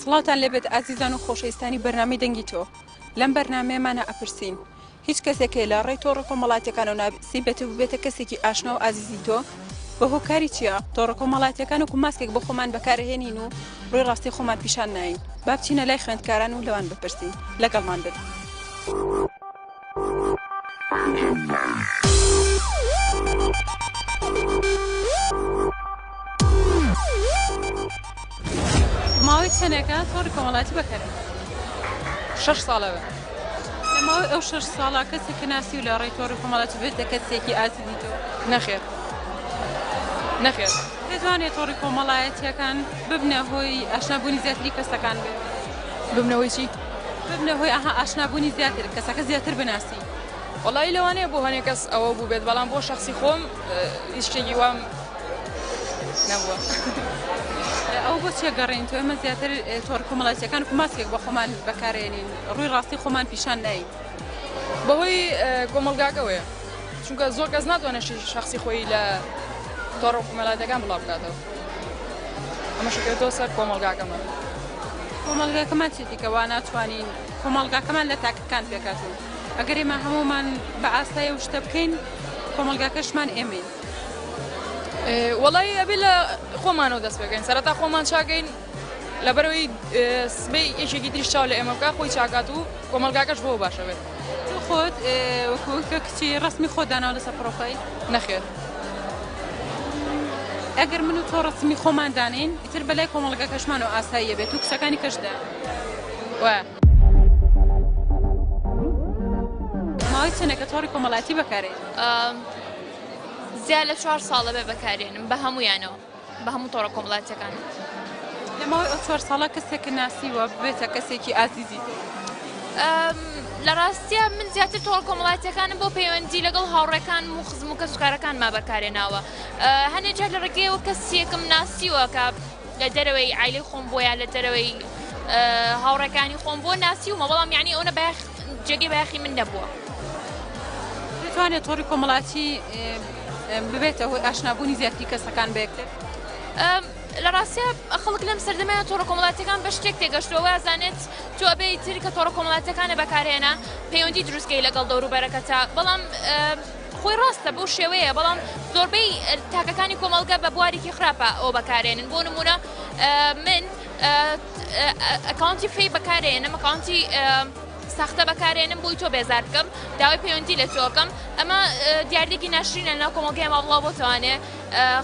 سڵاوتان لێبێت ئازیزان و خۆشەویستانی بەرنامەی دەنگی تۆ لەم بەرنمەیەمانە ئەپرسین هیچ کەسێکێ لە ڕێی تۆڕە کۆمەڵاتەکانەوە ناسی بێت و بێتە کەسێکی ئاشنا و ئازیزی تۆ بە هۆکاری چییە تۆڕە کۆمەڵاتەکان و کوماسکێک بۆ خۆمان بەکارهێنین و ڕووی ڕاستی خۆمان پیشان ناین بابچینە لای خوێندکاران و لەوان بپرسین لەگەڵمان بن. ماوەی چەندێکە تۆڕی کۆمەڵاتی بەکەرێت شش ساڵەوە لە ماوەی ئەو شش ساڵا کەسێکی ناسی و لە ڕێی تۆڕی کۆمەڵاتی بێتە کەسێکی ئازی دیتەوە نەخێر نەخێر دەتوانێت تۆڕی کۆمەڵایەتیەکان ببنە هۆی ئاشنابوونی زیاتری کەسەکان بێت ببنەوەی چی؟ ببنە هۆی ئاها ئاشنا بوونی زیاتر کەسەکە زیاتر بناسی. وەڵایی لەوانەیە بۆ هەنێ کەس ئەوە بووبێت بەڵام بۆ شخصی خۆم هیچ شتێکی وام نەبووە. ئەو بۆ چێ گەڕین تۆ ئمە زیاتر تۆڕ کومەڵاتیەکان کوماسکێک بە خۆمان بەکارێنین ڕووی ڕاستی خۆمان پیشان ناین. بەهۆی کۆمەڵگاکەوەیە. چونکە زۆر کەس ناتوانێت شتی شخصی خۆی لە تۆڕە کومەلاتەکان بڵاو بکاتەوە ئەمە شکێتەوە سەر کۆمەلگاکەمان کۆمەلگاکەمان چی دیکەوا ناتوانین کۆمەلگاکەمان لە تاکەکان پێکاتون ئەگەر ئێمە هەمومان بە ئاسای و شتە بکەین کۆمەلگاکەشمان ئێمەین وڵی ئەبێ لە خۆمانەوە دەست پێکەین سەرتا خۆمان چاگەین لەبەرئەوەی سبەی یەکێکی تریش چاو لە ئێمە بکات خۆی چاکات و کۆمەڵگاکەش بۆ باشە بێت. تۆ خۆت وەکو کە کچی ڕەسمی خۆت داناوە لەسەر پڕۆفایل؟ نەخێر. ئەگەر من و تۆ ڕەسمی خۆمان دانێین ئیتر بەلای کۆمەڵگاکەشمانەوە ئاساییە بێت و کچەکانی کەش دە وە. ماوەی چەنە کە تۆڕی کۆمەڵایەتی بەکارێنی؟ زیاد لە چوار ساڵە بێ بەکارێنم بە هەموویانەوە. بە هەموو تۆڕە کۆمەڵاتیەکان. لە ماوەی ئەو چوار ساڵە کەسێکە ناسیوە ببێتە کەسێکی ئازیزی لە ڕاستە من زیاتر تۆڵ کۆمەڵاتیەکانم بۆ پەیوەندی لەگەڵ هاوڕێکان و خزم و کەسکارەکان ما بەکارێ ناوە هەنێ جار لە ڕێگەیەوە کەسیەکم ناسیوە کە لە دەرەوەی ئایلی خۆم بۆیان لە دەرەوەی هاوڕەکانی خۆم بۆ ناسی ومە بەڵام یعنی ئەوە بە جێگەی بەخی من نەبووە. توانێت تۆری کۆمەڵاتی ببێتە هۆی ئاشنابوونی زیاتری کەسەکان بە یەکتر. لە ڕاستە خەڵک لەم سەردەمەیان تۆڕە کۆمەڵاتەکان بە شتێک تێگەشتووە وازانێت تۆ ئەبێ تر کە تۆڕە کۆمەڵاتەکانە بەکارهێنا پەیوەندی دروستکەی لەگەڵ دەوروبەرەکەتە بەڵام خۆی ڕاستە بەو شێوەیە بەڵام زۆربەی تاکەکانی کۆمەلگە بە بوارێکی خراپە ئەو بەکارێنن بۆ نمونە من ئەکاونتی فی بەکارێنە مەکانتی ساختە بەکارێنم بۆی تۆ بێزار بکەم داوای پەیوەندی لە تۆکەم ئەمە دیاردێکی ناشرینە ناو کۆمەڵگای ماوڵا بۆ توانێ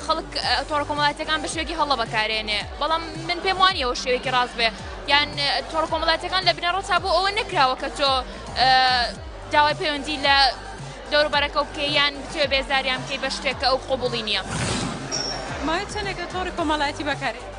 خەڵک تۆڕە کۆمەڵاتەکان بە شوێکی هەڵە بەکارێنێ بەڵام من پێم وانیەوە شوێکی ڕاست بێ یان تۆڕە کۆمەڵاتەکان لە بنەڕەتا بۆ ئەوە نەکراوە کە تۆ داوای پەیوەندی لە دەوروبەرەکە بکە یان بتوێ بێزاریان بکەی بە شتێکە ئەو قوبڵی نییە ماوەی چەندێکە تۆڕی کۆمەڵایەتی بەکارێ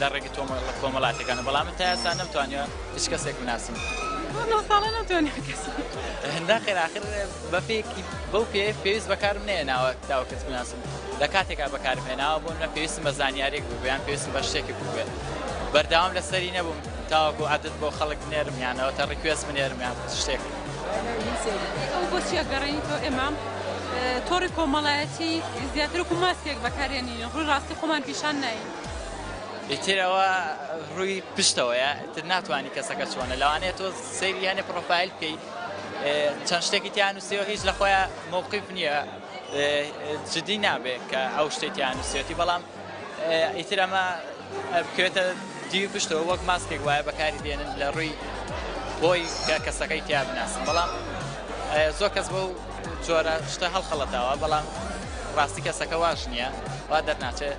لە ڕێگە تۆمەڵە کۆمەڵاتیەکانە بەڵام من تا ئێستا نەمتوانیوە هیچ کەسێک بناسم هەندا خێراخر بەپێکی بەو پێ پێویست بەکارم نێناوە تاوە کەس بناسم لە کاتێکا بەکارم هێناوە بۆ نە پێویستم بە زانیارێک بوو بەیان پێویستم بە شتێکی بووێت بەرداوام لەسەری نەبووم تاوەکو عادت بۆ خەڵک بنێرم یانەوە تا ڕیکوێز بنێرمیان شتێک بۆچیە گەڕێنی تۆ ئێمام تۆڕی کۆمەڵایەتی زیاتر و ماسکێک بەکارێنی ڕووی ڕاستی خۆمان پیشان ناین ئیتر ئەوە ڕووی پشتەوەیە ئیتر ناتوانانی کەسەکە چۆنە لەوانەیە تۆ سەیری یانێ پڕۆفایل بکەیت چەند شتێکی تیان نووسیەوە هیچ لە خۆیان مووقیف نییە جدی نابێت کە ئەو شتێکیان نووسێتی بەڵام ئیتر ئەمە بکرێتە دیوی پشتەوە وەک ماسکێک وایە بەکاری دێنن لە ڕووی بۆی کە کەسەکەی تیا بناسن بەڵام زۆر کەس بۆ جۆرە شتە هەڵخەڵەتاوە بەڵام ڕاستی کەسەکە واش نییە وا دەرناچێت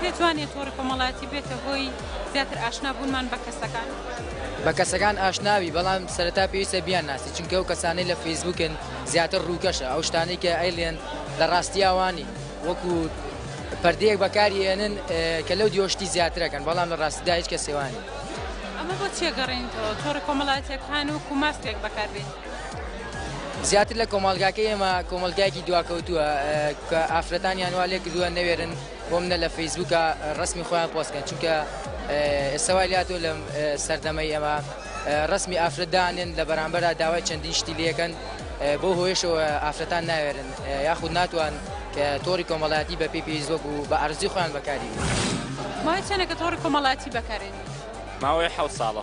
پێتوانێ تۆڕی کۆمەڵایەتی بێتە هۆی زیاتر ئاشنا بوونمان بە کەسەکان؟ بە کەسەکان ئاشنابی بەڵام سەرەتا پێویستە بیان ناسی چونکە ئەو کەسانەی لە فەیسبوکن زیاتر ڕووکەشە ئەو شتانەی کە ئەیڵێن لە ڕاستیا وانین وەکو پەردەیەک بەکاری ئێنن کە لەو دیۆ شتی زیاترەکەن بەڵام لە ڕاستیدا هیچ کەسێوانی ئەمە بۆ تێگەڕێنیتەوە تۆڕی کۆمەڵایەتەکان و کوماسپێک بەکاربێت. زیاتر لە کۆمەڵگاکەی ئێمە کۆمەڵگایەکی دواکەوتووە کە ئافرەتانیان وا لێ کردووە نەوێرن بۆم نە لە فەیسبووکە ڕسمی خۆیان پۆستکەن چونکە ئێستاوای لاتۆ لە سەردەمەی ئەمە ڕسمی ئافرەتدانێن لە بەرامبەردا داوای چەندین شتی لەکەن بۆ هۆیشەوە ئافرەتان ناوێرن یاخود ناتوان کە تۆری کۆمەڵایەتی بە پێی پێی زۆک و بە ئەرزی خۆیان بەکاری ماوەی چەنە کە تۆڕی کۆمەڵاتی بەکارێنی؟ ماوەی حەوت ساڵە.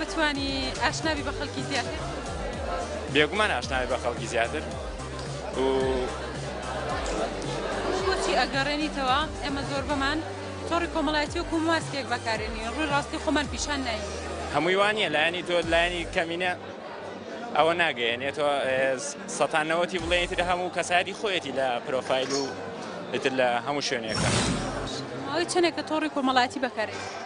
بتوانی ئاشنا بی بە خەڵکی زیاتر؟ بێگومان ئاشنا بی بە خەڵکی زیاتر و بۆچی ئەگەڕێنیتەوە؟ ئێمە زۆربەمان تۆڕی کۆمەڵایەتی و کوماسکێک بەکارێنی ڕووی ڕاستی خۆمان پیشان ناین. هەمووی وا نییە، لایەنی تۆ لایەنی کەمینە ئەوە ناگەیەنێت تۆ سەتا نەوەتی بڵێنی تر هەموو کەسایەتی خۆیەتی لە پرۆفایل و ئیتر لە هەموو شوێنێکە. ماوەی چەندێکە تۆڕی کۆمەڵایەتی بەکارێنی؟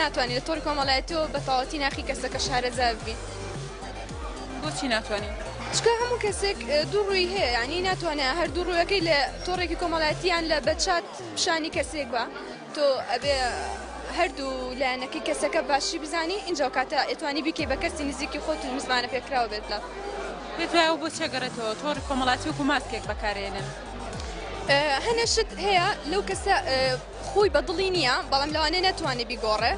ناتوانین لە تۆڕی کۆمەڵایەتیەوە بە تەواوەتی ناخی کەسەکە شارەزا ببین. بۆچی ناتوانین؟ چونکە هەموو کەسێک دوو ڕووی هەیە، یانی ناتوانێ هەردوو ڕووەکەی لە تۆڕێکی کۆمەڵایەتی یان لە بە چات پیشانی کەسێک با، تۆ ئەبێ هەردوو لایەنەکەی کەسەکە باشی بزانی ئینجا کاتە ئەتوانی بیکەی بە کەسی نزیکی خۆت و مزمانە پێکراو بێت لات. پێت وایە ئەو بۆچیە گەڕێتەوە تۆڕی کۆمەڵایەتی وەکو ماسکێک بەکارێنن؟ هەنێ شت هەیە لەو کەسە خۆی بە دڵی نییە، بەڵام لەوانەیە نەتوانێ بیگۆڕێ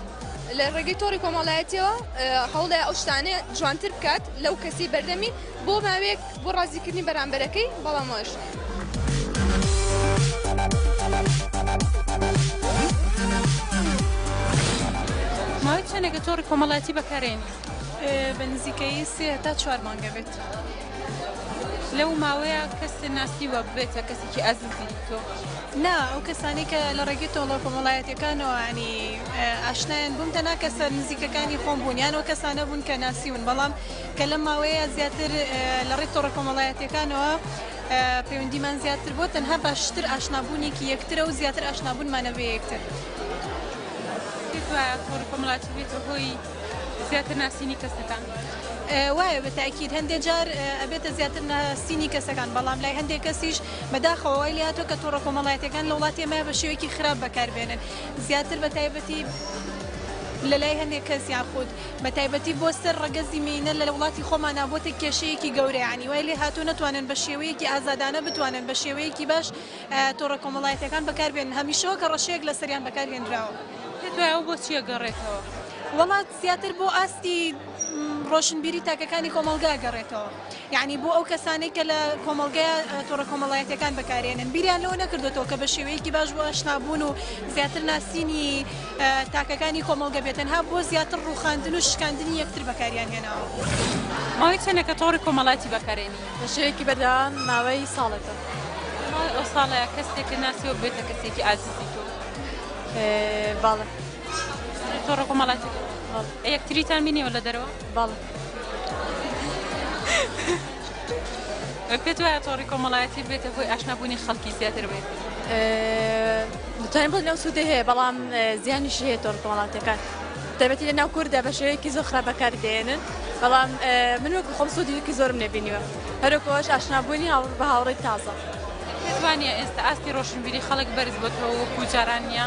لە ڕێگەی تۆڕی کۆمەڵایەتیەوە هەوڵێ ئەو شتانە جوانتر بکات لەو کەسی بەردەمی بۆ ماوەیەک بۆ ڕازیکردنی بەرامبەرەکەی بەڵام وایش ماوەی چەندێکە تۆڕی کۆمەڵایەتی بەکارێنی بە نزیکەی سێ تا چوار مانگە بێت لەو ماوەیە کەس ناسی وە بێتە کەسێکی ئازیزی تۆ نا ئەو کەسانەی کە لە ڕێگەی تۆڵە کۆمەڵایەتیەکانەوە ینی ئاشنایان بووم تەنها کەسە نزیکەکانی خۆم بوون یان ئەو کەسانە بوون کە ناسیون بەڵام کە لەم ماوەیە زیاتر لە ڕێی تۆڕە کۆمەڵایەتیەکانەوە پەیوەندیمان زیاتر بۆ تەنها باشتر ئاشنابوونێکی یەکترە و زیاتر ئاشنابوونمانە بە یەکتر وایە تۆڕە کۆمەڵاتی بێتە هۆی زیاتر ناسینی کەسەکان. وایە بە تاکیید هەندێک جار ئەبێتە زیاتر ناسینی کەسەکان بەڵام لای هەندێک کەسیش بەداخەوە وای لێهاتوە کە تۆڕە کۆمەڵایەتیەکان لە وڵاتی ئێمە بە شێوەیەکی خراپ بەکاربێنن زیاتر بە تایبەتی لەلای هەندێک کەس یاخود بە تایبەتی بۆ سەر ڕەگەزی مینە لە وڵاتی خۆمانە بۆتە کێشەیەکی گەورەیانی وای لێ هاتوو نەتوانن بە شێوەیەکی ئازادانە بتوانن بە شێوەیەکی باش تۆڕە کۆمەڵایەتەکان بەکاربێن هەمیشەوە کە ڕەشەیەک لە سەریان بەکارهێنراوە پێت وایە ئەو بۆچیە گەڕێتەوە وڵات زیاتر بۆ ئاستی ڕۆشنبیری تاکەکانی کۆمەڵگا گەڕێتەوە یعنی بۆ ئەو کەسانەی کە لە کۆمەڵگەیە تۆڕە کۆمەڵایەتەکان بەکارێنن بیریان لەوە نەکردوێتەوە کە بە شێوەیەکی باش بۆ ئاشنابوون و زیاتر ناسینی تاکەکانی کۆمەڵگە بێتەنها بۆ زیاتر ڕوخاندن و شکاندنی یەکتر بەکاریان هێناوە ماوەی چەنەکە تۆڕی کۆمەڵاتی بەکارێنی بە شێوەیەکی بەردەوام ماوەی ساڵێکە ئەو ساڵە کەسێک ناسی وەک بێتە کەسێکی ئازیزی تۆ باڵە. تۆڕە کۆمەڵاتی یەکتریتان بینیەوە لە دەرەوە باڵ پێت وایە تۆڕی کۆمەڵایەتی بێتە هۆی ئاشنابوونی خەڵکی زیاتر بێت دەتوانین بڵ لەو سوودە هەیە بەڵام زیانیش هەیە تۆڕ کۆمەڵاتەکان دەبێتی لە ناو کوردە بە شێوەیەکی زۆر خراپ بەکار دێنن بەڵام من وەکو خۆم سوودیکی زۆرم نەبینیوە هەرۆکۆش ئاشنابوونی هاوڕ بە هاوڕێی تازە. توانە ئێستا ئاستی ڕۆشنبیری خەڵک بەرز بۆتەوە وەکو جاران نیە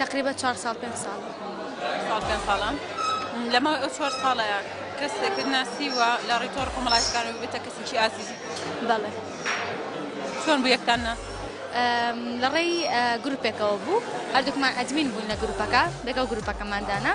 تەقریبە چوار ساڵ پێنج ساڵ. چوار ساڵ پێنج ساڵە. لە ماوەی ئەو چوار ساڵەیا کەسێکت ناسیوە لە ڕێی تۆڕە کۆمەڵایەتیەکانەوە ببێتە کەسێکی ئازیزی؟ بەڵێ. چۆن بوو یەکتان ناسی؟ لە ڕێی گروپێکەوە بوو هەردووکمان ئەدمین بووین لە گروپەکە لەگەڵ گروپەکەمان دانا.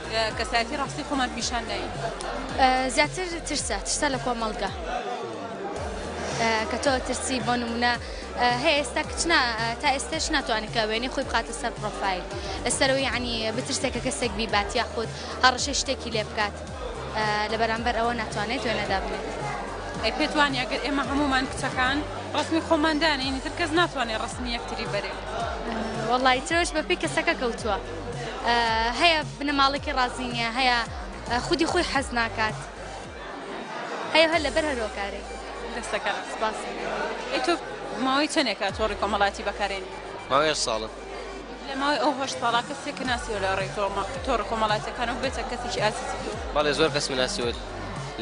کەسایەتی ڕاستی خۆمان پیشان داین. زیاتر ترسە ترسە لە کۆمەڵگە کە تۆ ترسی بۆ نمونە هەیە ئێستا کچنا تا ئێستش ناتوانێت کە وێنی خۆی بخاتە سەر پرۆفایل ئەسەرەوەی عنی بترسێک کە کەسێک بیبات یاخود هەڕەشەی شتێکی لێ بکات لە بەرامبەر ئەوە ناتوانێت وێنەدا بنێت. ئەی پێت وانیە گەر ئێمە هەمومان کچەکان ڕسمی خۆمان دانێین ئیتر کەس ناتوانێت ڕسمی یەکتری بەرێ؟ وەڵڵا ئیترەوەش بەپێی کەسەکە کەوتووە. هەیە بنەماڵەکی ڕازی نیە هەیە خودی خۆی حەز ناکات هەیە هەر لەبەر هەرۆکارێک دەستەکە سپاس تۆ ماوەی چەندێکە تۆڕی کۆمەڵاتی بەکارێن ماوەیە ساڵە لە ماوەی ئەو هەشت ساڵا کەسێک کە ناسی لە ڕێی تۆمە تۆڕ کۆمەڵاتەکان و بێتە کەسێکی ئازیزی تۆ بەڵێ زۆر کەس مناسیوت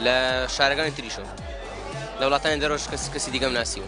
لە شارەکانی تریشم لە وڵاتانی دەرۆش کەس کەسی دیگەم ناسیوە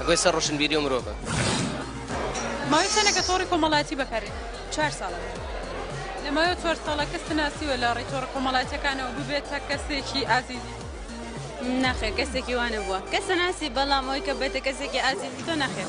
ئەگۆی سەر ڕۆشنبیری و مرۆڤە. ماوەی چەنە کە تۆڕی کۆمەڵاتی بەکاری چار ساڵە لە ماوە چوار ساڵە کەس ناسیوە لە ڕێی تۆڕە کۆمەڵاتەکانەوە ببێتە کەسێکی ئازیزی ناخێر کەسێکی وانە بووە کەسە ناسی بەڵام ئەوی کە بێتە کەسێکی ئازیزی تۆ ناخێر.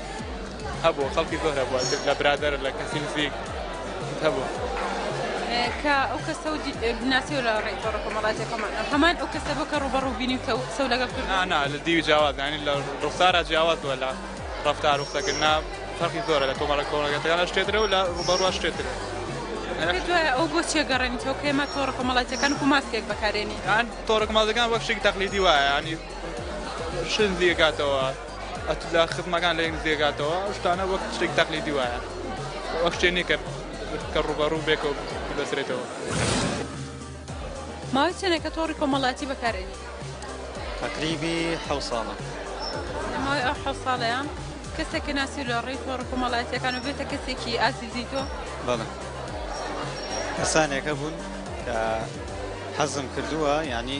هەبوو خەڵکی زۆر هەبوو لە برادر لە کەسی نزیک هەبوو کە ئەو کەسە و ناسی و لە ڕێی تۆڕە کۆمەڵاتی خۆمان هەمان ئەو کەسە بۆ کە ڕوبەڕوو بینی و قسە لەگەڵ کرد نانا لە دیوی جیاوازانی لە ڕوخسارە جیاواز بووە لە ڕفتار و قسەکردنا فەرقی زۆرە لە کۆمەڵە کۆمەڵگەتەکانە شتێترە و لە ڕوبەڕوە شتێترە دوای ئەو بۆ چێ گەڕێنی تۆ کێمە تۆڕە کۆمەڵاتەکان و ماسکێک بەکارێنی تۆڕە کۆمەڵەکان وەک شتێک تەقلیدی وایە ینی شن دیگاتەوە ئەتوولا خزمەکان لە یەک نزیکەکاتەوە ئەو شتانە وەک شتێک تەقلیدی وایە ئەو شتێ نییە کە کە ڕووبەڕوو بێکەوە ببەسرێتەوە. ماوەی چەنە کە تۆڕی کۆمەڵاتی بەکارێنی؟ تەقریبی حەو ساڵە. لە ماوەی ئەو حەو ساڵەیە کەسێک کە ناسی لە ڕێی تۆڕە کۆمەڵاتیەکان و بێتە کەسێکی ئازیزی تۆ؟ بەڵێ کەسانێک هەبوون کە حەزم کردووە یانی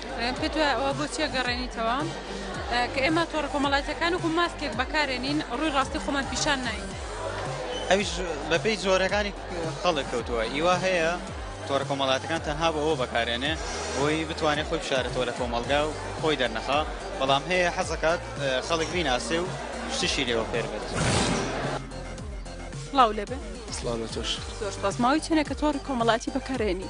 پێتوایە ئەوە بۆ چیە گەڕێنیتەوە کە ئێمە تۆڕە کۆمەڵاتەکان وکو ماسکێک بەکارێنین ڕووی ڕاستی خۆمان پیشان ناین. ئەویش بەپێی جۆرەکانی خەڵک کەوتووە ئیوا هەیە تۆڕە کۆمەڵاتەکان تەنها بۆ ئەوە بەکارێنێ بۆی بتوانێت خۆی بشارێتەوە لە کۆمەڵگا و خۆی دەرنەخا بەڵام هەیە حەزەکات خەڵک بیناسێ و شتشی لێوە فێر بێت. سڵاو لێبێ سڵاو لە تۆش. زۆر سپاس ماوەی چەنێکە تۆڕی کۆمەڵاتی بەکارێنی؟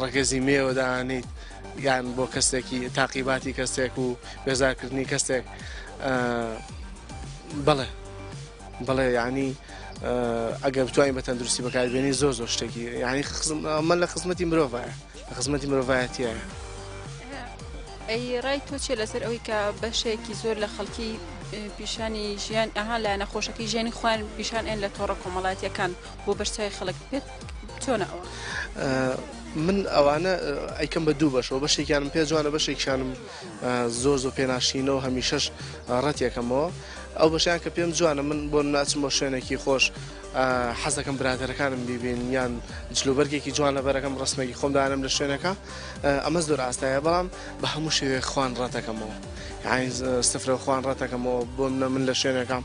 ڕەگەزی مێیەوە دانیت یان بۆ کەسێکی تاقیباتی کەسێک و بێزارکردنی کەسێک بڵێ بڵێ ینی ئەگە بتوانین بە تەندروستی بەکاربیێنی زۆر زۆر شتێکی ینی خزممە لە خزمەتی مرۆڤایە لە خزمەتی مرۆڤایەتیە ئەی ڕای تۆ چێ لەسەر ئەوەی کە بەشێکی زۆر لە خەڵکی پیشانی ژیان ئەها لایەنە خۆشەکەی ژیانی خوان پیشان ئەن لە تۆڕە کۆمەڵاتیەکان بۆ بەرچای خەڵک پێت چۆنە ئەوە؟ من ئەوانە ئەیکەم بە دوو بەشەوە بەشێکیانم پێ جوانە بەشێکیانم زۆر زۆر پێناشینەوە هەمیشەش ڕەتێکەمەوە ئەو بەشیان کە پێم جوانە من بۆ ناچم بۆ شوێنێکی خۆش حەزەکەم برادەرەکانم بیبین یان جلوبەرگێکی جوان لە بەرەکەم ڕستمێکی خۆم دانم لە شوێنەکە ئەمە زۆر ئاستایە بەڵام بە هەموو شێوێ خوان ڕەتەکەمەوە سفرە خوان ڕەتەکەمەوە بۆ منە من لە شوێنەکەم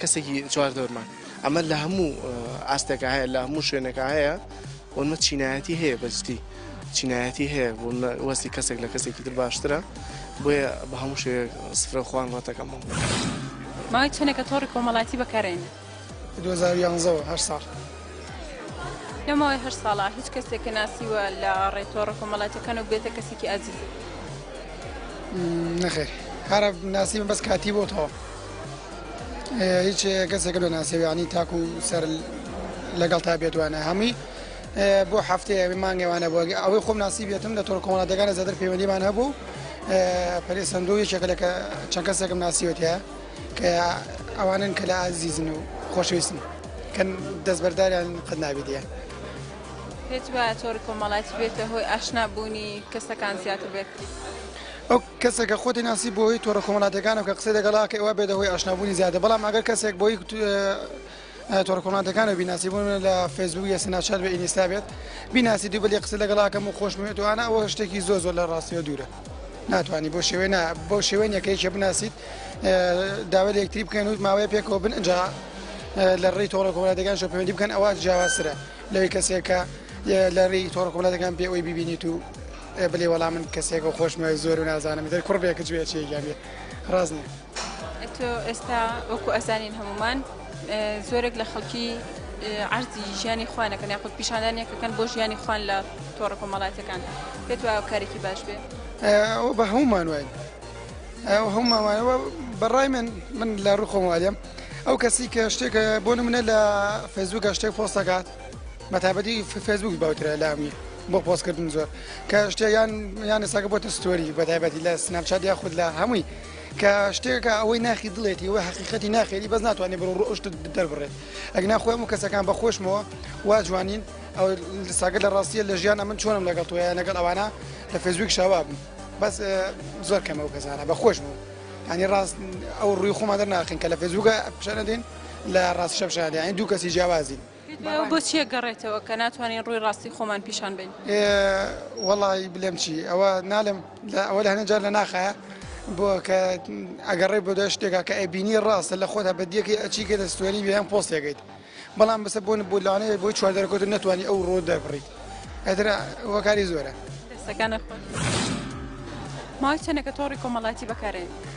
کەسێکی چواردەورمان ئەمە لە هەموو ئاستێکا هەیە لە هەموو شوێنێکا هەیە ومە چینایەتی هەیە بەجدی چینایەتی هەیە وەستی کەسێک لە کەسێکی تر باشترە بۆیە بە هەموو شێ سفرە خوان ڕەتەکەمەوە ماوەی چەنێکە تۆڕی کۆمەڵاتی بەکارێنە 2011 هەر ساڵ لەمەوەی هەر ساڵە هیچ کەسێک کە ناسیوە لە ڕێتۆڕە کۆمەڵاتەکان و بێتە کەسێکی ئازیز نەخێر هەرە ناسیمە بەس کاتی بۆتەوە هیچ کەسێکە لە ناسێ یعنی تاکو سەر لەگەڵ تا بێتوانە هەمووی بۆ هەفتەیە مانگێوانە بۆ ئەوەی خۆم ناسی بێتم لە تۆر کۆمەڵاتەکانە زیاتر پەیوەندیمان هەبوو پەرێ سندوو یەکێکە لە چەند کەسێکم ناسیوەتە کە ئەوانن کە لە ئازیزن و خۆشویستن کە دەستبەرداریان قەت نابیدە. پێت وایە تۆر کۆمەڵاتی بێتە هۆی ئاشنا بوونی کەسەکان زیاتر بێت. کەسێکە خۆتی ناسی بۆ هۆی تۆڕە کۆمەلاتیەکانەوە کە قسەی لەگەڵا ئەکەی ئەوا بێتە هۆی ئاشنا بوونی زیاتر بەڵام ئەگەر کەسێک بۆ هۆی تۆڕە کۆمەلاتیەکانەوە بیناسی بۆ نموونە لە فەیسبووک یا سناپچات بێ ئینیستا بێت بیناسی دوو بەلی قسە لەگەڵا ئەکەم و خۆشم وێت و ئانا ئەوە شتێکی زۆر زۆر لە ڕاستیەوە دوورە ناتوانی بۆ شێوێ نا بۆ شێوێن یەکەی کێ بناسیت داوای لە یەکتری بکەن و ماوەیە پێکەوە بن ئەجا لە ڕێی تۆڕە کۆمەلاتیەکان شۆ پەیوەندی بکەن ئەوە جیاوازترە لەوەی کەسێکە لە ڕێی تۆڕە کۆمەلاتەکان پێ ئەوی ببینیت و ئێ بلی وەڵا من کەسێکەو خۆشم وێ زۆر و نازانم ئیتر کوڕ بێ کچ بێ چی گیان بێ ڕاست نیە. ئەتۆ ئێستا وەکو ئەزانین هەموومان زۆرێک لە خەڵکی عرضی ژیانی خوان نەکەن یاخود پیشاندان یەکەکەن بۆ ژیانی خوان لە تۆڕە کۆمەڵاتەکان پێت وایە کارێکی باش بێ ئەو بە هەمومان وای ئەو هەموماوانەوە بەڕای من من لە ڕوخۆموالیم ئەو کەسی کە شتێکە بۆ منە لە فەزوو گەشتێک فۆستەکات بەتابەتی فێسبوک باوترە لامی بۆ پۆستکردن زۆر کە شتێک یان یان ئێستاکە بۆتە ستۆری بەتابەتی لە سناپچات یا خود لە هەمووی کە شتێکە ئەوەی ناخی دڵێتی وە حقیقەتی ناخێری بەس ناتوانێت بڕ ڕۆشت دەربڕێت ئەگنا خۆم و کەسەکان بە خۆشمەوە وا جوانین ئەو ساگە لە ڕاستیە لە ژیان ئەمن چۆنم لەگەڵ توە لەگەڵ ئەوانە لە فێزویک شاوا بوو بەس زۆر کەمە و کەسانە بە خۆشمەوە ینی ڕاست ئەو ڕووی خۆمان دەرناخین کە لە فێزوگە پیشانەدەین لە ڕاست چەپ شا دەیان دوو کەسی جیاوازین بۆ چیە گەڕێتەوە کە ناتوانین ڕووی ڕاستی خۆمان پیشان بین وەڵی بلێم چی ئەوە نالم ئەوە لە هەنە جار لە ناخە بۆ کە ئەگەڕێ بۆ دە شتێکا کە ئەبینی ڕاستە لە خۆدا بەدیەکەی ئەچی کە دەستێنی ویان پۆستێکیت بەڵام بەسە بۆن بۆ لاانەیە بۆی چواردەکۆت نتوانانی ئەو ڕۆ دەبڕیت ئەتر وەکاری زۆرە دەستەکانە ماوەی چەندەکە تۆڕی کۆمەڵاتی بەکارێن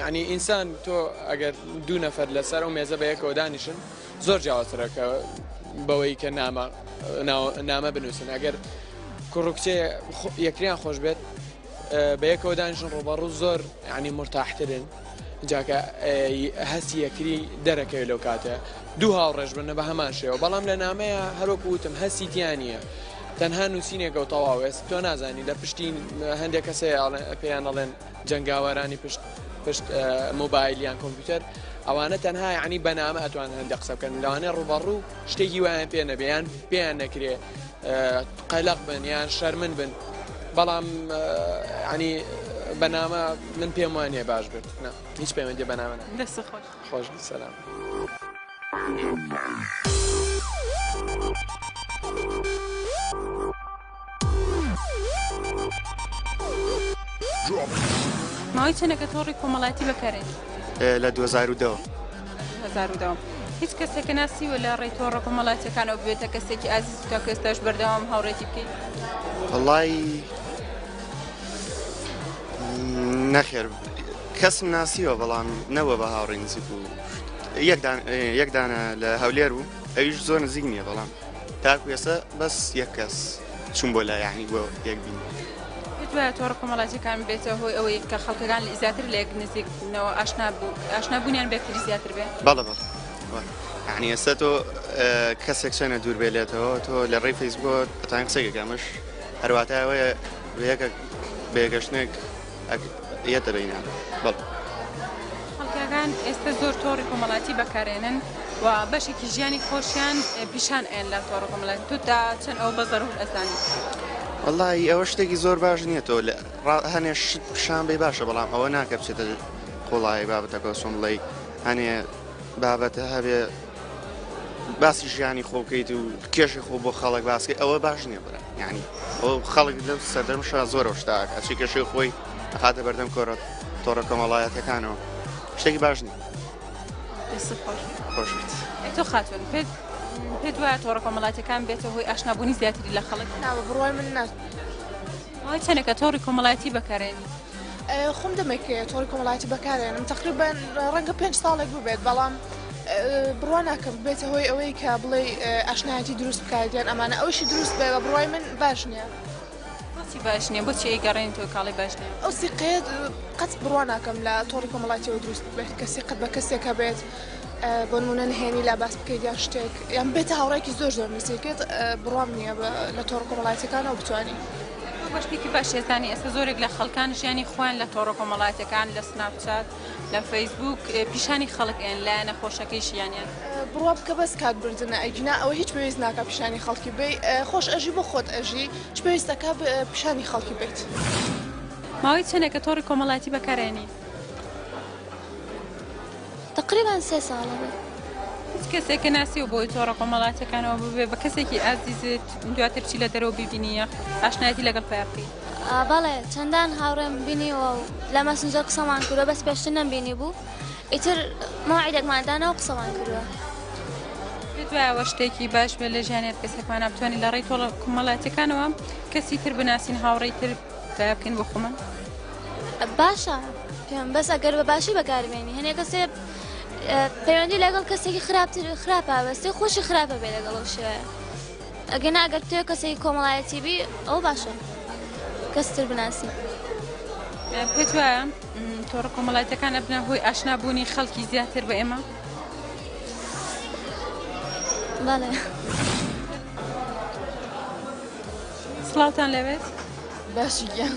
یانی ئینسان تۆ ئەگەر دوو نەفەر لەسەر ئەو مێزە بەیەکەوە دانیشن زۆر جیاوازترەکە بەوەی کە نامە نامە بنووسن ئەگەر کوڕکچێ یەکریان خۆش بێت بەیەکەوە دانیشن ڕۆبەڕوو زۆر ینی مرتاحترن جاکە هەستی یەکری دەرەکەوێت لەو کاتە دوو هاوڕێژ بنە بە هەمان شێوە بەڵام لە نامەیە هەروەکو وتم هەستی تیانە تەنها نووسینێکە و تەواوێست تۆ نازانی لە پشتین هەندێک کەسێ پێیان ئەڵێن جەنگاوەرانی پشت پشت مۆبایل یان کۆمپیوتەر ئەوانە تەنها یعنی بەنامە ئەتوان هەندە قسە بکەن لەوانێ ڕوبەڕوو شتێکی وایان پێ نەبێیان پێیان نەکرێ قەلق بن یان شەرمن بن بەڵام ینی بەنامە من پێم وانە باش بێت هیچ پەیوەندی بەنامە خۆش سلام. Thank you. ماوەی چەنەکە تۆڕی کۆمەڵاتی بەکارێت لە 2010 هیچ کەسێکە ناسی و لە ڕێی تۆڕە کۆمەڵاتەکانەوە بێتە کەسێکی ئازیز تا کەستاش بەردەوام هاوڕێتی بکەیت وڵی نەخێر کەسم ناسیوە بەڵام نەوە بە هاوڕێ نزیک و یەکدانە لە هەولێر و ئەویش زۆر نزیک نییە بەڵام تاکو ئێستا بەس یەک کەس چوون بۆ لا یعنی بۆ یەک بینی. دوایە تۆڕە کۆمەڵاتیەکان بێتە هۆی ئەوەی کە خەڵکەکان زیاتر لێک نزیکبوونەوە ئاشنا بوو ئاشنابوونیان بێکتری زیاتر بێ بەڵە بەڵ عنی ئێستا تۆ کەسێک چەنە دوور بێلێتەوە تۆ لە ڕێی فەیسبووە ئەتان قسەێکەکەمەش هەرواتایەوەیە بەیەکە بێگەشتێک خەڵکەکان ئێستە زۆر تۆڕی کۆمەڵاتی بەکارێنن و بەشێکی ژیانی خۆشیان پیشان ئەیەن لە تۆڕ کۆمەڵاتی تودا چەند ئەو بە زەرور ئەزانی وەڵی ئەوە شتێکی زۆر باش نییە تۆ لە هەنێ شت پیشان بی باشە بەڵام ئەوە ناکە بچێتە قوڵایی بابەتەکە سۆم بڵی هەنێ بابەتە هەبێ باسی ژیانی خۆ بکەیت و کێشی خۆ بۆ خەڵک باسکەی ئەوە باش نییە برا یعنی ئەو خەڵک لەم سەردەم شا زۆرەوە شتاک ئەچی کێشی خۆی هاتە بەردەم کۆرە تۆڕە کۆمەڵایەتەکانەوە شتێکی باش نییە خۆش تۆ خاتون پێت پێ دوایە تۆڕە کۆمەڵاتەکان بێتە هۆی ئاشنابوونی زیاتری لە خەڵک ناوە بڕای من ناست چەنەکە تۆڕی کۆمەڵایەتی بەکارێنی خۆم دەمێکەیە تۆڕی کۆمەڵایەتی بەکارێنم تقریبان ڕەنگە پێنج ساڵێک ببێت بەڵام بڕوا ناکەم بێتە هۆی ئەوەی کە بڵێ ئاشنایەتی دروست بکات یان ئەمانە ئەوشی دروست بێ بە بڕای من باش نییە. بۆچی باش نییە بۆچی گەڕێن تۆ کاڵی باش نیە ئەو سیقەیە قەت بڕوا ناکەم لە تۆڕی کۆمەڵاتیەوە دروست بێت کە سیقەت بە کەسێک هەبێت بۆ نمونە نهێنی لا باس بکەیت یان شتێک یان بێتە هاوڕێکی زۆر زۆر نزیکێت بڕام نییە لە تۆڕ کۆمەڵاتەکانەوە بتوانین. تۆ بە شتێکی باش ئێزانی ئێستا زۆرێک لە خەڵکان ژیانی خۆیان لە تۆڕە کۆمەڵاتەکان لە سناپچات لە فەیسبووک پیشانی خەڵک ئەن لایە نەخۆشەکەی ژیانیان. بڕوا بکە بەس کات بردنە ئەگینا ئەوە هیچ پێویست ناکا پیشانی خەڵکی بەی خۆش ئەژی بۆ خۆت ئەژی چ پێویستەکا پیشانی خەڵکی بەیت. ماوەی چەنێکە تۆڕی کۆمەڵاتی بەکارئەینی؟ تقریبان سێ ساڵە بێت. هیچ کەسێک کە ناسیەوە بۆی تۆڕە کۆمەڵاتەکانەوە ببێ بە کەسێکی ئازیزت دواتر چی لە دەرەوە ببینیە ئاشنایەتی لەگەڵ پێڕقی بەڵێ چەندان هاوڕێم بینیەوە و لە مەسنجەر قسەمان کردوە بەس پێشتر نەمبینی بوو ئیتر ماعیدێکماندانەوە قسەمان کردوە. دوایەوە شتێکی باش بێ لە ژیانێت کەسێکمانە بتوانین لە ڕێی تۆڵە کومەڵاتەکانەوە کەسی تر بناسین هاوڕێی تر بکەین بۆ خۆمان باشە پێم بەس ئەگەر بە باشی بەکاربێنی هەنێ کەسێ پەیوەندی لەگەڵ کەسێکی خراپتر خراپ پابەستی خۆشی خراپە بێ لەگەڵ ئەو شێ ئەگەنا ئەگەر تێ کەسێکی کۆمەڵایەتی بی ئەو باشە کەستر بناسی. پێت وایە تۆڕە کۆمەڵایەتەکان ئەبنە هۆی ئاشنابوونی خەڵکی زیاتر بە ئێمە؟ بەڵێ. سڵاوتان لەوێت؟ باشی گیان.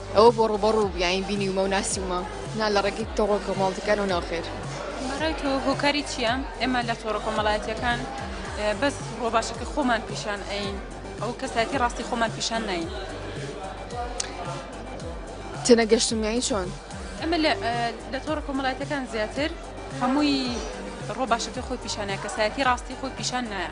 ئەوە بۆ ڕووبە ڕوو بیاین بینیومە و ناسیومە نا لە ڕێگەی تۆڕە کۆمەڵتەکانەوە ناوخێر. بەڕای تۆ هۆکاری چیە ئێمە لە تۆڕە کۆمەڵایەتیەکان بەس ڕۆباشەکە خۆمان پیشان ئەین ئەو کەسایەتی ڕاستی خۆمان پیشان ناین تێنەگەشتم یانی چۆن؟ ئەمە لە تۆڕە کۆمەڵایەتەکان زیاتر هەمووی ڕۆباشەکە خۆی پیشانە کەسایەتی ڕاستی خۆی پیشان نایە.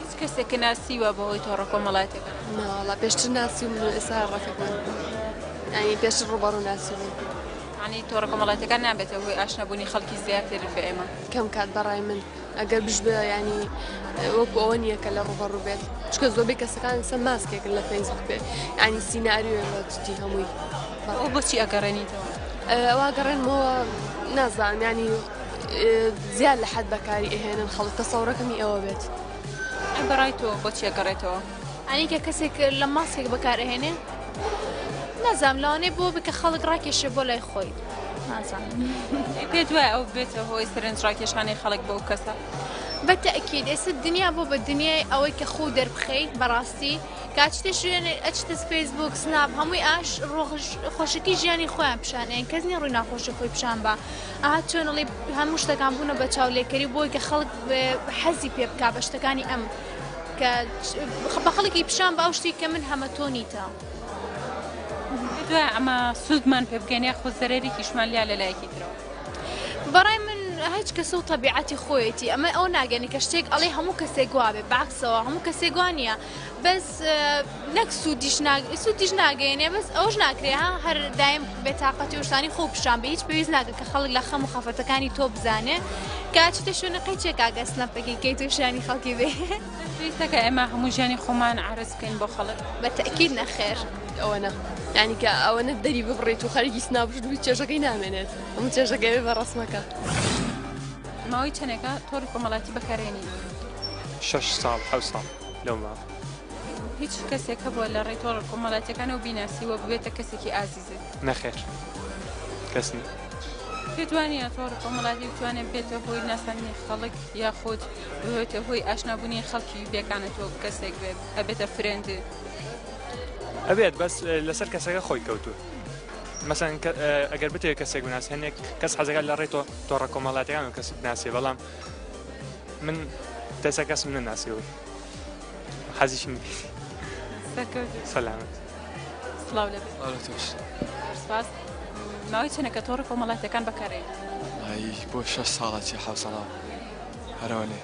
هیچ کەسێکە ناسیوە بەهۆی تۆڕە کۆمەڵاتەکە؟ ناوەڵا پێشتر ناسی من ئێستا ڕەفە بوون ئەنی پێشتر ڕوبەڕ و ناسی بوون عنی تۆڕە کۆمەڵاتەکان نابێتە هۆی ئاشنەبوونی خەڵکی زیاتر بە ئێمە کەم کات بەڕای من ئەگەر بشبێ ینی وەکو ئەوە نییە کە لە ڕوبەڕ بێت چکە زۆبی کەسەکان سە ماسکێک لە فەیسبوک بێ ینی سینناریوێ لە جدی هەمووی بەڕۆ بۆچی ئەگەڕێنیتەوە ئەوە گەڕێنمەوە نازانانی زیاد لە حەد بەکاری ئەهێنن خەڵک تەسەوڕەکەمی ئەوە بێت بەڕای تۆ بۆچیە گەڕێتەوە ئەنیکە کەسێک لە ماسکێک بەکارهێنێ نازام لەوانێ بۆ بکە خەڵک ڕاکێشێ بۆ لای خۆی نازان پێ دوای ئەو بێتە هۆی سرنج ڕاکێشانی خەڵک بۆ کەسە بە تەکیید ئێستا دنیا بۆ بە دنیای ئەوەی کە خۆ دەربخەی بەڕاستی کاچتە ژێن ئەچتە فەیسبوک سناب هەمووی ئاش ڕۆژ خۆشەکی ژیانی خۆیان پیشانیان کەس نیە ڕووی ناخۆشی خۆی پیشان بە ئەها چەنڵی هەموو شتەکان بوونە بە چاولێکەری بۆی کە خەڵک حەزی پێ بک بە شتەکانی ئەم کە بە خەڵکی پیشان بە ئەو شتی کە من هەمە تۆ نیتە. دوای ئەمە سوودمان پێ بگەین یاخۆ زەرەرێکیشمان لیا لە لایەکی ترەوە بەڕای من هیچ کەسە و تەبیعەتی خۆیەتی ئەمە ئەو ناگەێنی کە شتێک ئەڵێ هەموو کەسێک گوواێ باکسەوە هەموو کەسێک گووانە بەس نەک سوودیش سوودیش ناگەێنێ بەس ئەوش ناکرێ ها هەر دایم بێتاقەتی وشتانی خۆ پیشان بە هیچ پێویست ناکە کە خەڵک لە خەم و خەفەتەکانی تۆ بزانێ کاچتە شوێنە قەی چێکاگە سنەپەکی کەی تووشانی خەڵکی بێ پێویستەکە ئێمە هەموو ژیانی خۆمان عرز بکەین بۆ خەڵک بە تەکیل نەخێر ئەوە نە ینی کە ئەوەنە دەری ببڕێت و خەرگی سنابژ دوو چێژەکەی نامێنێت ئەمە چێژەکەی بە ڕسمەکە ماوەی چەندێکە تۆری کۆمەڵاتی بەکارێنی شش ساڵ حو ساڵ. لەو ماوە. هیچ کەسێک هەبووە لە ڕێی تۆڕە کۆمەڵاتیەکانەوە بیناسی و ببێتە کەسێکی ئازیزت؟ نەخێر کەس نییە. پێت وانە تۆڕ کۆمەڵاتی بتوانێت بێتە هۆی ناساندنی خەڵک یاخود ببێتە هۆی ئاشنابوونی خەڵکی بێکانە تۆ کەسێک بێت ئەبێتە فرێندێ؟ ئەبێت بەس لەسەر کەسەکە خۆی کەوتووە. مەسەن ئەگەر بتێت کەسێک بناس هەنێک کەس حەزەکە لە ڕێ تۆ تۆڕە کۆمەڵاتیان و کەس بناسێ بەڵام من تێسا کەسم نەناسی و حەزیشم سەلامت سلااو لە سپاس ماوەی چەنە کە تۆڕی کۆمەڵاتەکان بەکارێ بۆ شە ساڵە چی حە ساڵا هەرەوەێ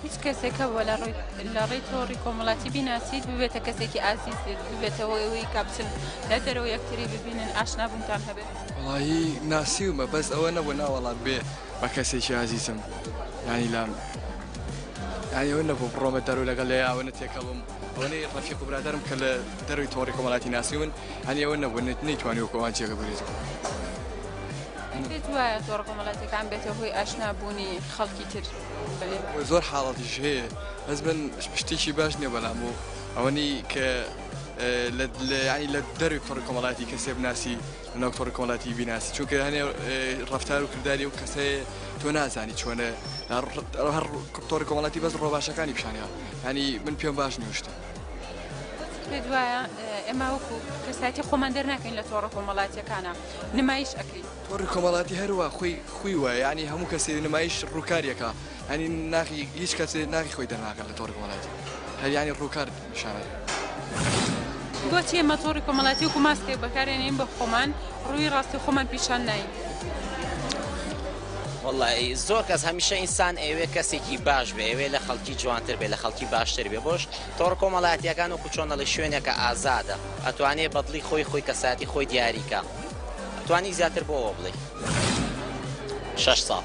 هیچ کەسێکە بۆ لە ڕووی لە ڕێی تۆڕی کۆمەڵاتی بیناسییت ببێتە کەسێکی ئازیز ببێتەوە ئەوەی کاپچن لە دەرەوە یەکتری ببینن ئاشنابوونتان هەبێت وڵی ناسیومە بەس ئەوە نەبوو ناوەڵات بێ بە کەسێکی ئازیزم یانی لام یانی ئەوە نەبوو بڕۆمە دەرو لەگەڵ لێ ئەوەنە تێکەڵم ئەوەی ڕەفیق و برادرم کە لە دەروی تۆڕی کۆمەڵاتی ناسی من هەنی ئەوە نەبوو نەیتوانی و کۆوان جێگە بگرێت پێت وایە تۆڕ کۆمەڵاتەکان بێتە هۆی ئاشنا بوونی خەڵکی تر زۆر حاڵەتیش هەیە بەس من شتێکی باش نیە بەلام بوو ئەوەنی کە لە لە دەروی تۆڕی کۆمەڵاتی کەسێ بناسی لەناو تۆڕی کۆمەڵاتی بیناسی چونکە هەنێ ڕفتار و کردداری و کەسێ تۆ نازانی چۆنە هەر تۆڕی کۆمەڵاتی بەس ڕۆباشەکانی پیشانە هەنی من پێم باش نیشتە پێت وایە ئێمە وەکو کەساتی خۆمان دەرناکەین لە تۆڕە کۆمەڵاتیەکانە نمایش ئەکەین تۆڕی کۆمەڵاتی هەروە خۆی خوی وە ینی هەموو کەسی نمایش ڕووکاریەکە هەنی ناخی هیچ کەسێ ناخی خۆی دەرناکەن لە تۆڕی کۆمەڵاتی هەریانی ڕووکارد بۆچی ئێمە تۆڕی کۆمەڵاتی وەکو ماسکێک بەکارێنین بە خۆمان ڕووی ڕاستی خۆمان پیشان ناین؟ وڵی زۆر کەس هەمیشە ئینسان ئەوێ کەسێکی باش بێ ئەوێ لە خەڵکی جوانتر بێ لە خەڵکی باشتر بێ بۆش تۆڕ کۆمەڵاتیەکان و کوچۆنەڵی شوێنێکە ئازادە ئەتوانێ بەدڵی خۆی خۆی کەساتی خۆی دیاریکە توانی زیاتر بۆەوە بڵێ شش ساڵ.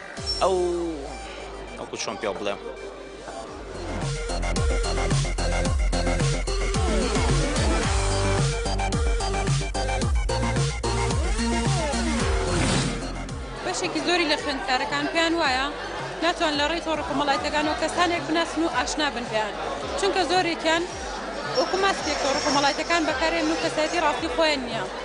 ئەو وەکو چۆن پێ بڵێم. بەشێکی زۆری لە خوێندکارەکان پێیان وایە ناتوان لە ڕێی تۆڕە کۆمەڵایەتەکانەوە کەسانێک بناسن و ئاشنا بن پێیان چونکە زۆرێکیان وەکو ماسکێک تۆڕە کۆمەڵایەتەکان بەکارێن و کەسایەتی ڕاستی خۆیان نییە.